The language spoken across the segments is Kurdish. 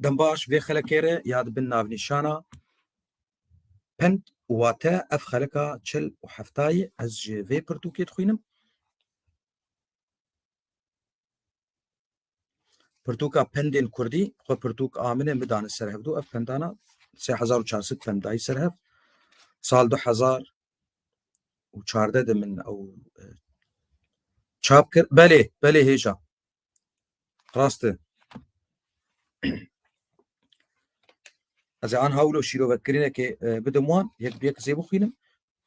Dembaş vê xelekê re ya dibin navnîşana pend û wate ev xeleka çil û heftayê ez ji vê pirtûkê dixwînim. Pirtûka pendên Kurdî xwe pirtûk a min e min dane ser hevdû ev pendana sê hezar û çar sed pend dayî ser hev sal du hezar û çardeh de min ew çap kir belê belê hêja Rast e. Ez ê an hawlo şîrovetkirînekê e, bidim wan, yek bi yek zê bixwînim.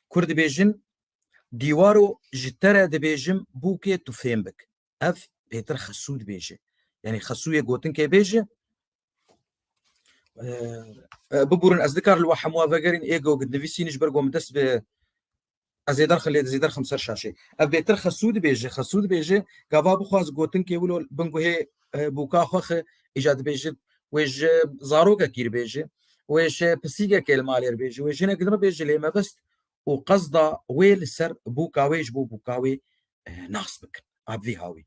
Kur dibêjin dîwaro ji te re dibêjim bûkê tu fêm bik. Ev pêtir xesû dibêje. Yanî xesûyê gotinkê bêje. E, e, Biburin ez nikar li we hemû vegerîn êgo nivîsînî ji ber ku min dest bi Ez ê derxê lê dizî derxim ser şaşê. Ev bêtir xesû dibêje, xesû dibêje, gava bixwaz gotinkê wilo bin guhê bûka xwe xi îca dibêje wê ji zarokekî re bêje, wê ji pisîgekê li malê re bêje, wê jinekî din re bêje lê mebist û qesda wê li ser bûka wê ji bo bûka wê nas bikin. Ev vî hawî.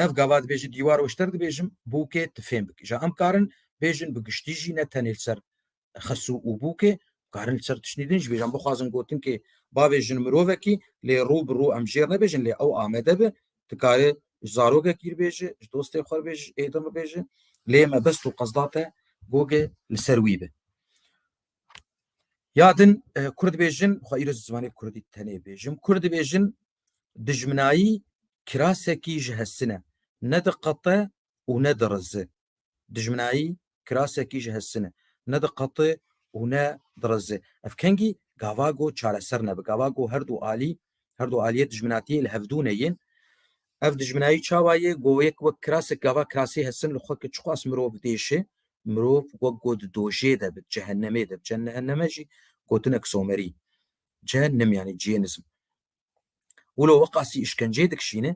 Ev gava dibêje dîwar weşter dibêjim bûkê tifêm bike. Ja em karin bêjin bi giştî jî ne tenê li ser xesû û bûkê karin li ser tiştî din ji bêjan bixwazin gotin kê bavê jin mirovekî lê rû bi rû em jêr nebêjin lê ew amede bi dikare ji zarokekî re bêje ji dostê xwe re bêje ji êdin re bêje lê mebest û qesda te gogê li ser wî bi ya din kurd bêjin xwe îro zimanê kurdî tenê bêjim kurd bêjin dijminayî kirasekî ji hesine ne diqete û ne dirizi Dijminayî kirasekî ji hestin e. Ne diqete û ne direze. Ev kengî gava ku çareser nebe. Gava ku her du alî, her du aliyê dijminatiyê li hevdûnê yên. Ev dijminayî çawa yê? Ku yek wek kirasek gava kirasê hestin li xwe ke çiqas mirov diêşe, mirov wek ku di dojê de bi, di cehennemê de bi. Cehenneme jî gotinek somerî. Cehennem yanî cihênizm. Wilo weqasî îşkenceyê dikişîne,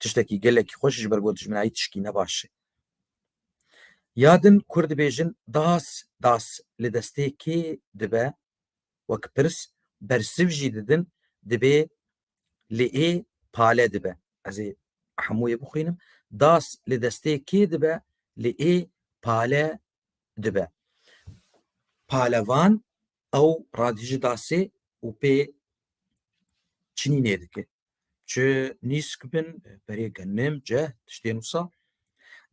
tiştekî gelekî xweş ji ber ku dijminayî tişkî ne baş e. Ya din kurd dibêjin das das li destê kê dibe wek pirs bersiv jî didin dibê li ê pale dibe. Ez ê hemû yê bixwînim. Das li destê kê dibe li ê pale dibe. Palevan ew radijî dasê û pê çinînê dike. Çi nîsk bin berê ke nêm ce tiştê nûsa.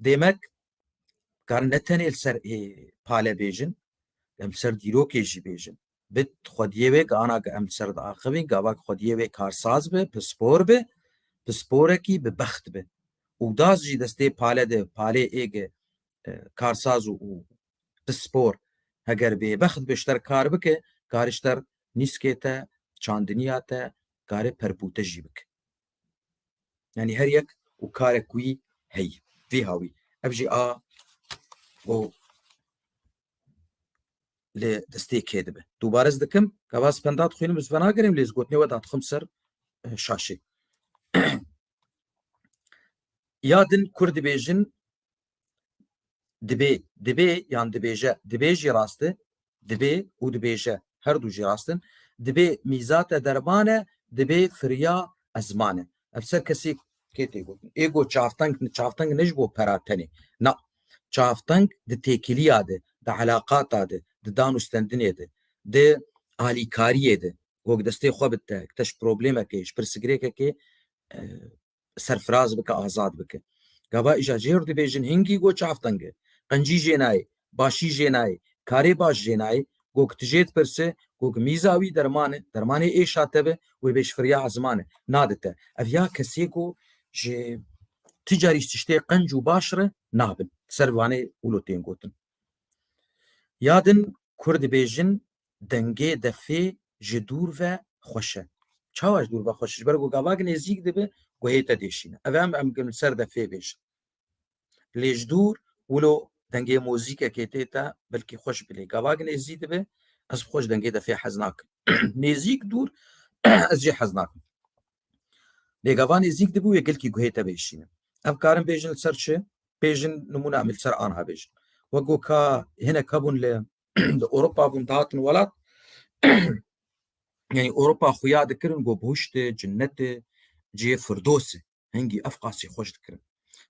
Dêmek karin ne tenê li ser ê pale bêjin, em li ser dîrokê jî bêjin. Bi xwediyê wê ke ana ke em li ser diaxivîn gava ke xwediyê wê karsaz bi, pispor bi, pisporekî bi bext bi. Û das jî destê pale de, palê ê ge karsaz û pispor heger bêbext bi ji te re kar bike, karê ji te nîskê te, çandiniya te, karê perpûte jî bike. Yanî her yek û karek wî heye. Vî hawî ev jî a û lê destê kê dibe. Dubare ez dikim ka vas penda dixwînim ez venagirim lê ez gotinê we dadixim ser e, şaşê. Ya din kur dibêjin Dibê, dibê yan dibêje, dibê jî rast e, dibê û dibêje her du jî rast in. Dibê mîzate derman e, dibê firiya ezman e. Ev ser kesî kê tê gotin? Ê got çavteng, çavteng ne ji bo pera tenê. Na, çavteng di têkiliya de, di elaqata de, di dan û stendinê de, di alîkariyê de, gog destê xwe bidite, bikite ji problemekê, ji pirsigirêkekê serfiraz bike azad bike. Gava îja jêr dibêjin hingî go çavtenge. Qencî jê nayê, başî jê nayê, karê baş jê nayê, go ki tu jê dipirse, go ki mîza wî derman e, dermanê êşa te be, wê bê ji firya ziman e, nade te. Ev ya kesê ku ji tu carî ji tiştê qenc û baş re nabin. Ser vanê wilo tên gotin. Ya din kur dibêjin dengê defê ji dûr ve xweş e. Çawa ji dûr ve xweş ji ber ku gavak nêzîk dibe guhê te dêşîne. Ev em em kin ser defê bêjin. Lê ji dûr wilo dengê mozîkekê tê te belkî xweş bi lê gavak nêzî dibe ez bi xweş dengê defê hez nakim. nêzîk dûr ez jê hez nakim. Lê gava nêzîk dibû wê gelkî guhê te bêşîne. Ev karin bêjin li ser çi? Bêjin nimûna em li ser anha bêjin. Wek ku ka hinek hebûn li di Ewropa bûn dihatin welat yani Ewropa xuya dikirin go boşti cinneti cê firdosi hengî ev qasî xweş dikirin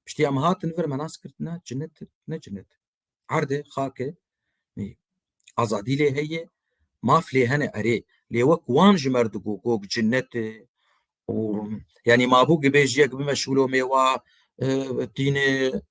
piştî em hatin vir me nas kirtina cinnet ne cinnet erde xake azadî lê heye maf lê hene erê lê wek wan ji mer digo gog cinneti û yanî mabû gibêjiyek bimeşûlo mêwa tîne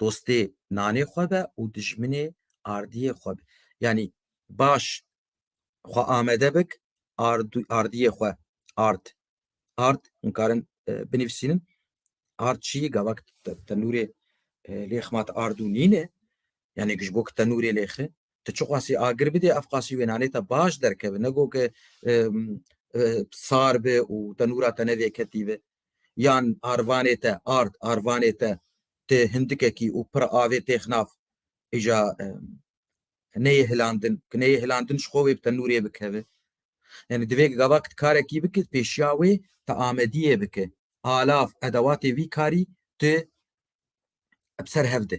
dostê nanê xwe be û dijminê ardiyê xwe be. Yanî baş xwe amede bik ardiyê xwe ard. Ard hûn karin binivîsînin ard çiyî gavak tenûrê lê xema te ard û nîn e. Yanî ji bo ku tenûrê lê xi tu çi qasî agir bidê ev qasî wê nanê te baş derkeve. Ne got ke sar be û tenûra te ne vêketî be. yan arvanê te ard arvanê te tê hindikekî û pir avê têx nav îja neyê hilandin ki neyê hilandin ji xwe wê bi te nûrê bikeve yani divê gavak karekî bike pêşiya wê te amediyê bike alav edewatê vî karî tu bi ser hev de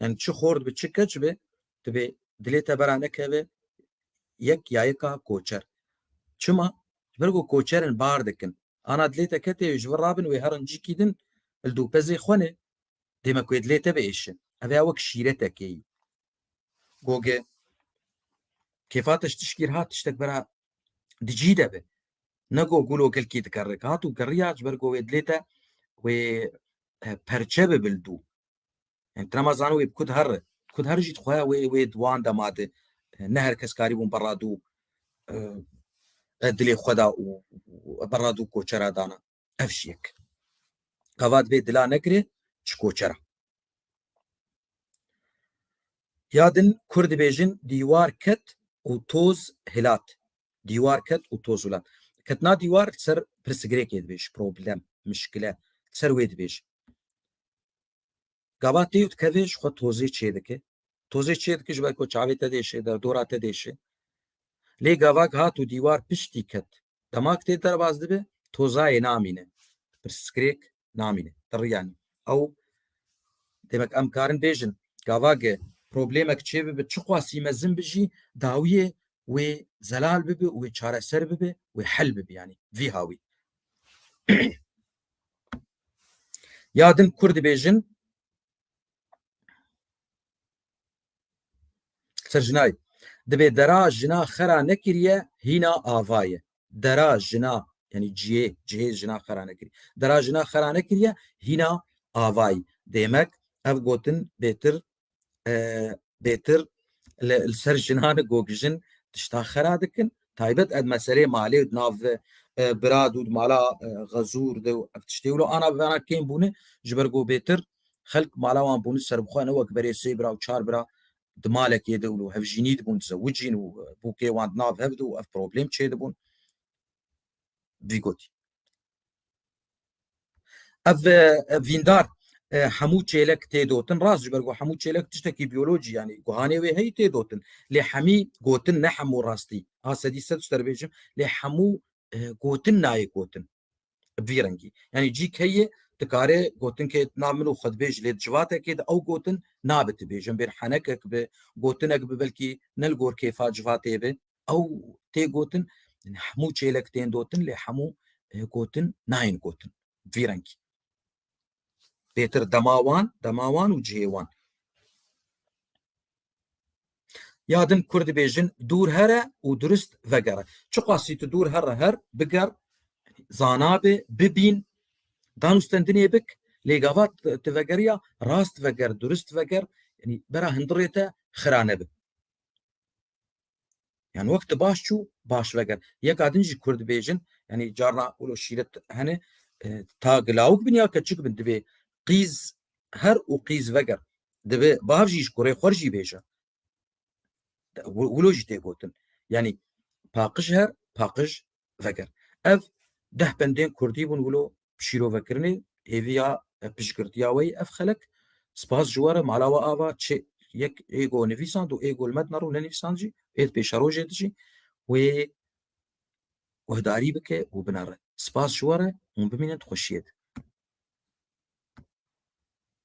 yani çi xor dibe çi keç be dibe dilê te bera nekeve yek ya yeka koçer çima ber ku koçerin bar dikin ana dilê te ketê ji vir rabin wê herin cî kîdin li dûpezê xwe ne dême ku dilê te biêşin ev ya wek şîretekê yî goge kêfa te ji tişkî hat tiştek bera dijî de be ne go gûlo gelkî dikerrek hat û kerriya ji ber ku wê dilê te wê perçe bi bil dû. Yani trema zano wê kud her kud her jî dixwe wê wê wan de made ne her kes karî bûn berra dû dilê xwe da û berra dû koçera dana. Ev jî yek. Gava divê dila nekirê çi koçera. Ya din kur dibêjin dîwar ket û toz hilat. Dîwar ket û toz û lem. Ketina dîwar li ser pirsgirêkê dibêj, problem, muşkile, li ser wê dibêj. Gava tê û dikeve ji xwe tozê çê dike. Tozê çê dike ji ber ku çavê te diêşe, derdora te diêşe. Lê gavak hat û dîwar piştî ket. Dema ku tê derbas dibe, tozayê namîne. Pirsgirêk namîne. Ti riya nî. Ew demek em karin bêjin gavage problemek çê bibe çiqasî mezin bi jî dawiyê wê zelal bibe û wê çareser bibe wê hel bibe yanî vî hawî. Ya din kur dibêjin Serjinay, dibê dera jina xera nekiriye hîna ava ye. Dera jina yanî cihê, cihê jina xera nekirî. Dera jina xera nekiriye hîna avayî. Dêmek ev gotin bêtir e, bêtir li ser jinan gogijin tişta xera dikin. Taybet ed meselê malê û nav e, birad û mala e, xezûr de û ev tiştê wilo ana bivana kêm bûne ji ber ku bêtir Xelk mala wan bûn û serbixwe ne wek berê sê bira û çar bira di malekê de û li hevjînî dibûn dizewicîn û bûkê wan di nav hev de û ev problem çêdibûn. Vî gotî. Ev vîndar hemû çêlek têdotin rast ji ber ku hemû çêlek tiştekî biyolojî yanî guhanê wê heyî têdotin lê hemî gotin ne hemû rastî a sedî sed ji te re bêjim lê hemû gotin nayê gotin Bi vî rengî. Yanî cî keyê dikarê gotin ke na min û xwe dibêj lê di civatekê de ew gotin nabe tu bêjin bêr henekek bi, gotinek bi belkî ne li gor kêfa civatê be ew tê gotin. Yanî hemû çêlek tên dotin lê hemû gotin nayên gotin bi vî rengî. pêtir dema wan dema wan û cihê wan ya din kur dibêjin dûr here û durist vegere çiqasî tu dûr herre her biger zanabê bibîn danûstendinê bik lê gava tu vegeriya rast veger durist veger bera hindirê te xira nebe Yani wek tu baş çû baş veger. Yeka din jî Kurd bêjin yani carna ûlo şîret hene ta gilawik bin ya keçik bin divê qîz her û qîz veger. Divê bav jî ji kurê xwe jî bêje. Wilo jî tê gotin. Yani paqij her paqij veger. Ev deh bendên Kurdî bûn wilo şîrovekirinê hêvî ya piştgirtiya wê ev xelek spas ji we re mala we ava çê yek êgo nivîsand û êgo li me dinaro nenivîsand jî êd pêşerojê di jî wê guhdarî bike û binare spas ji we re hûn bimînin di xweşiyê de